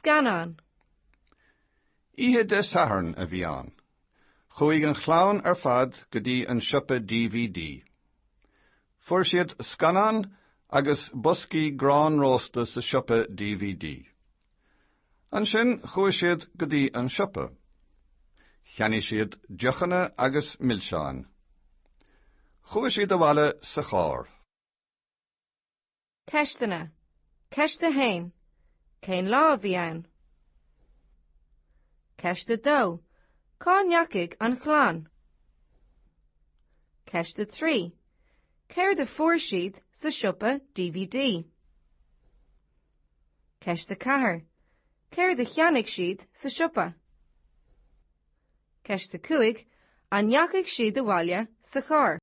Scannán. Oíche Dé Sathairn a bhí ann. Chuaigh an chlann ar fad go dtí an siopa DVD. Fuair siad scannán agus boscaí grán rósta sa siopa DVD. Ansin chuaigh siad go dtí an siopa. Cheannaigh siad deochanna agus milseáin. Chuaigh siad abhaile sa charr. Ceisteanna, Ceist 1, Cén lá a bhí ann? Ceist 2, Cá ndeachaigh an chlann? Ceist 3, Céard a fuair siad sa siopa DVD? Ceist 4, Céard a cheannaigh siad sa siopa? Ceist 5, An ndeachaigh siad abhaile sa charr?